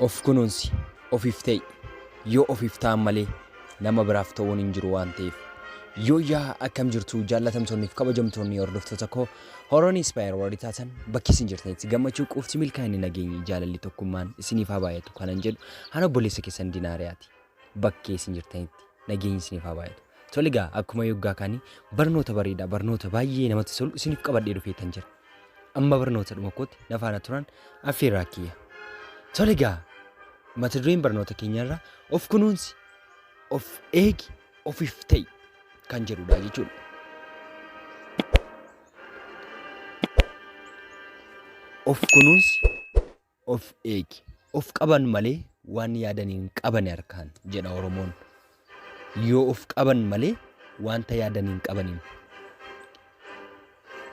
Of kunuunsi, ofiif ta'i. Yoo ofiif ta'an malee nama biraaf ta'uun hin jiru waan ta'eef. Yooyyaa akkam jirtu jaallatamtoonniif kabajamtoonni hordoftoota koo Horoon Inspire warri taatan bakki isin jirtanitti gammachuu, quufti, milkaa'inni, nageenyi, jaalalli, tokkummaan isiniif haa baay'atu kanan jedhu ana obboleessa keessan Dinaariyaati. Bakkee isin jirtanitti nageenyi isiniif haa baay'atu. Tole egaa akkuma yoggaa kaanii barnoota bareedaa barnoota baay'ee namatti tolu isiniif qabadhee dhufeetan jira. Amma barnoota dhuma kootti na faana turan affeerraa kiyya. Tole egaa mata dureen barnoota keenyarraa of kunuunsi, of eegi, ofiif ta'i kan jedhudha jechuudha. Of kunuunsi, of eegi. Of qaban malee waan yaadan hin qabani harkaan jedha Oromoon. Yoo of qaban malee wanta yaadan hin qabaniin.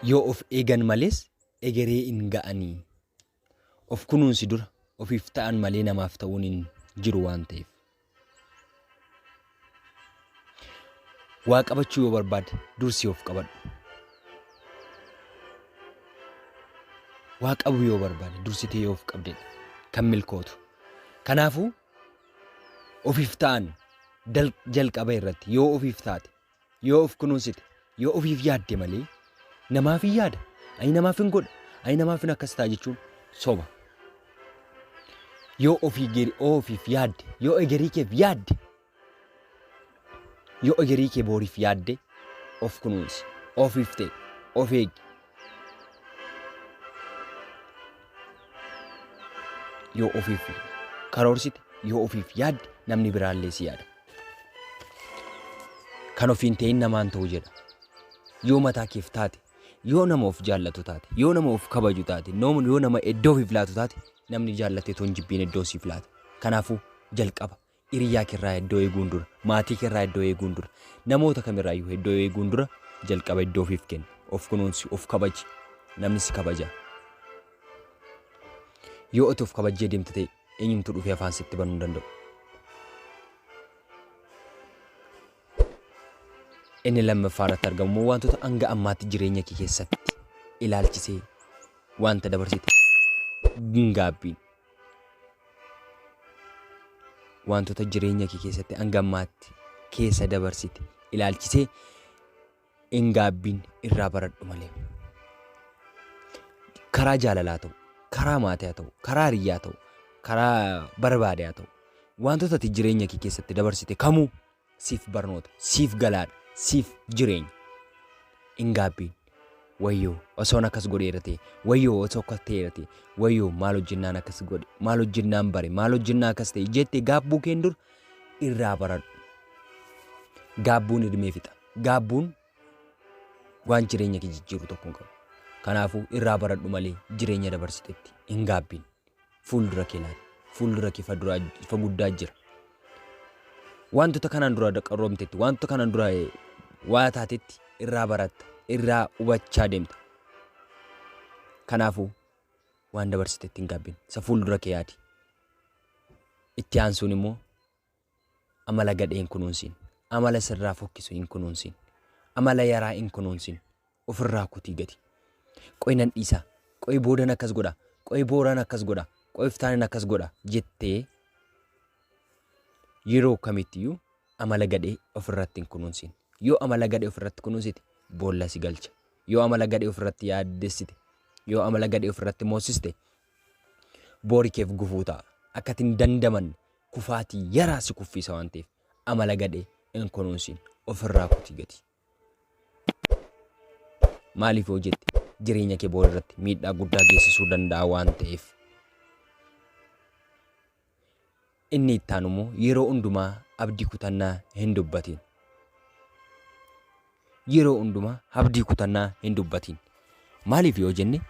Yoo of eegan malees egeree hin ga'anii Of kunuunsi dura ofiif ta'an malee namaaf ta'uun hin jiru waan ta'eef. Waa qabachuu yoo barbaade dursi of qabadhu. Waa qabu yoo barbaade dursitee yoo of qabdedha kan milkootu. Kanaafuu ofiif ta'an dal- jalqaba irratti yoo ofiif taate Yoo of kunuunsite, yoo ofiif yaadde malee namaaf hin yaada, ani namaaf hin godha, ani namaaf hin akkas ta'a jechuun soba. Yoo ofii geri ofiif yaadde, yoo egerii keef yaadde, yoo egerii kee booriif yaadde of kunuunsi, ofiif ta'e, of eegi, Yoo ofiif karoorsite, yoo ofiif yaadde namni biraallee si yaada. Kan ofiin ta'in namaan ta'u jedha. Yoo mataa keef taate, yoo nama of jaallatu taate, yoo nama of kabaju taate, noom- yoo nama iddoo ofiif laatu taate, namni jaallatee toon jibbiin iddoo siif laata. Kanaafuu jalqaba Hiriyaa kerraa iddoo eeguun dura, maatii kerraa iddoo eeguun dura, namoota kamirraayyuu iddoo eeguun dura jalqaba iddoo ofiif kenni. Of kunuunsi, of kabaji. Namni si kabaja. Yoo ati of kabajjee deemte ta'e eenyumtuu dhufee afaan sitti banuu hin danda'u. Inni lammaffaa irratti argamu immoo wantoota hanga ammaatti jireenya kee keessatti ilaalchisee wanta dabarsite gaabbiin Waantota jireenya kee keessatti hanga ammaatti keessa dabarsite ilaalchisee hin gaabbiin irraa baradhu malee. Karaa jaalalaa ta'u, karaa maatii haa ta'u, karaa hiriyyaa ta'u, karaa barbaade haa ta'u, waantota ati jireenya kee keessatti dabarsite kamuu Siif barnoota, siif galaadha, siif jireenya. Hin gaabbiin. Wayyoo osoon akkas godheera ta'e, wayyoo osoo akkas ta'eera ta'e, wayyoo maal hojjennaan akkas godhe, maal hojjennaan bare, maal hojjennaa akkas ta'e jette gaabbuu keen dur irraa baradhu. Gaabbuun hirmee fixa. Gaabbuun waan jireenya kee jijjiiru tokko hin qabu. Kanaafuu irraa baradhu malee jireenya dabarsitetti hin gaabbiin. Fuuldura kee laali. Fuuldura kee ifa duraa ifa guddaa jira. Wantoota kanaan dura qarroomtetti, wantoota kanaan dura eh, waa taatetti irraa baratta, irraa hubachaa deemta. Kanaafuu waan dabarsitetti hin gaabbiin. Isa fuuldura kee yaadi. Itti aansuun immoo Amala gadhee hin kunuunsin. Amala sirraa fokkisu hin kunuunsin. Amala yaraa hin kunuunsin. Ofirraa kutii gadi. Qoy nan dhiisa. Qoy boodan akkas godha. Qoy booraan akkas godha. Qoy iftaanin akkas godha jettee yeroo kamittiyyuu amala gadhee ofirratti hin kunuunsin. Yoo amala gadhee ofirratti kunuunsite boolla si galcha. Yoo amala gadhee ofirratti yaaddessite, yoo amala gadhee ofirratti moosiste boori keef gufuu ta'a. Akka ati hin dandamanne kufaatii yaraa si kuffiisa waan ta'eef amala gadhee hin kunuunsiin. Ofirraa kuti gadi. Maaliif yoo jette jireenya kee boori irratti miidhaa guddaa geessisuu danda'a waan ta'eef. Inni itti aanu immoo yeroo hundumaa abdii kutannaa hin dubbatiin. Yeroo hundumaa abdii kutannaa hin dubbatiin. Maaliif yoo jenne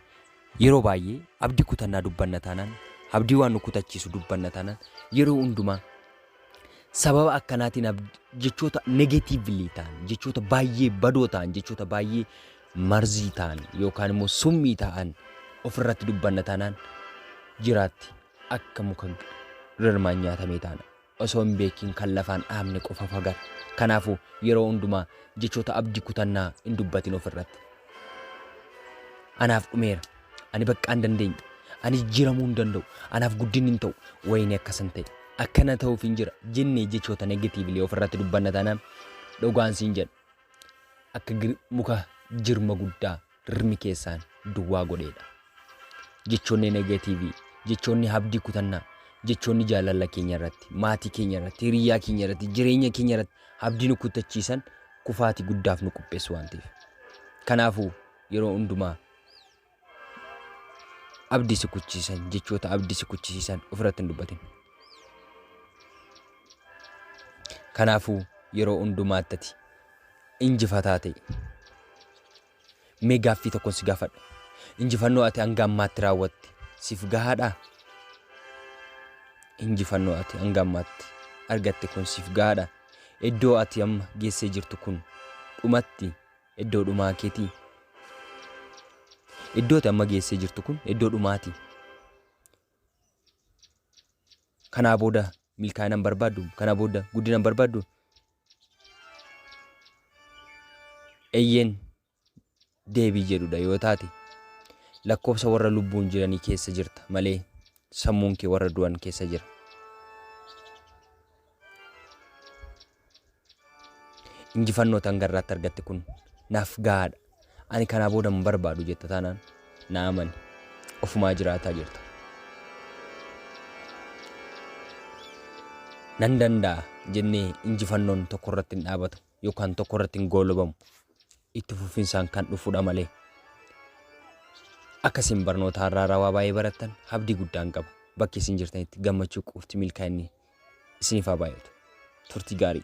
yeroo baay'ee abdii kutannaa dubbanna taanaan abdii waan nu kutachiisu dubbanna taanaan yeroo hundumaa sababa akkanaatiin abd- jechoota negatiivlii ta'an jechoota baay'ee badoo ta'an jechoota baay'ee marzii ta'an yookaan immoo summii ta'an ofirratti dubbanna taanaan jiraatti akka muka rirmaan nyaatamee taana. Osoo hin beekiin kan lafaan dhaabne qofa fagata. Kanaafuu yeroo hundumaa jechoota abdii kutannaa hin dubbatin ofirratti. Anaaf dhumeera. Ani baqqaa hin dandeenye. Ani jijjiiramuu hin danda'u. Anaaf guddinni hin ta'u. Wayinee akkasan ta'e. Akkana ta'uuf hin jira. Jennee jechoota negatiivlee ofirratti dubbanna taanaan dhugaan siin jedha. Akka muka jirma guddaa rirmi keessaan duwwaa godheedha. Jechoonni negatiivii, jechoonni habdii kutannaa, jechoonni jaalala keenya irratti, maatii keenya irratti, hiriyyaa keenya irratti, jireenya keenya irratti habdii nu kuttachiisan kufaati guddaaf nu qopheessu waan ta'eef. Kanaafuu yeroo hundumaa abdii si kuchisiisan jechoota abdii si kuchisiisan ofirratti hin dubbatin. Kanaafuu yeroo hundumaatti ati injifataa ta'i. Mee gaaffii tokkon si gaafadha. Injifannoo ati hanga ammaatti raawwatte siif gahaadhaa? Injifannoo ati hanga ammaatti argatte kun siif gahaadha? Iddoo ati amma geessee jirtu kun dhumatti iddoo dhumaa keetii? Iddoo ati amma geessee jirtu kun iddoo dhumaati. Kanaa booda milkaa'ina hin barbaaddu? Kana booda guddina hin barbaaddu? Eyyeen deebii jedhudha yoo taate lakkoofsa warra lubbuun jiranii keessa jirta malee sammuun kee warra du'an keessa jira. Injifannoo ati hanga irraatti argatte kun naaf gahaadha. Ani kanaa booda hin barbaadu jetta taanaan na amani. Ofumaa jiraataa jirta. Nan danda'a jennee injifannoon tokko irratti hin dhaabatu yookaan tokko irratti hin goolobamu. Itti fufinsaan kan dhufudha malee. Akka isin barnoota har'aa rawaa baay'ee barattan abdii guddaan qaba. Bakki isin jirtanitti gammachuu qofti milkaa'inni isiniif haa baay'atu. Turtii gaarii.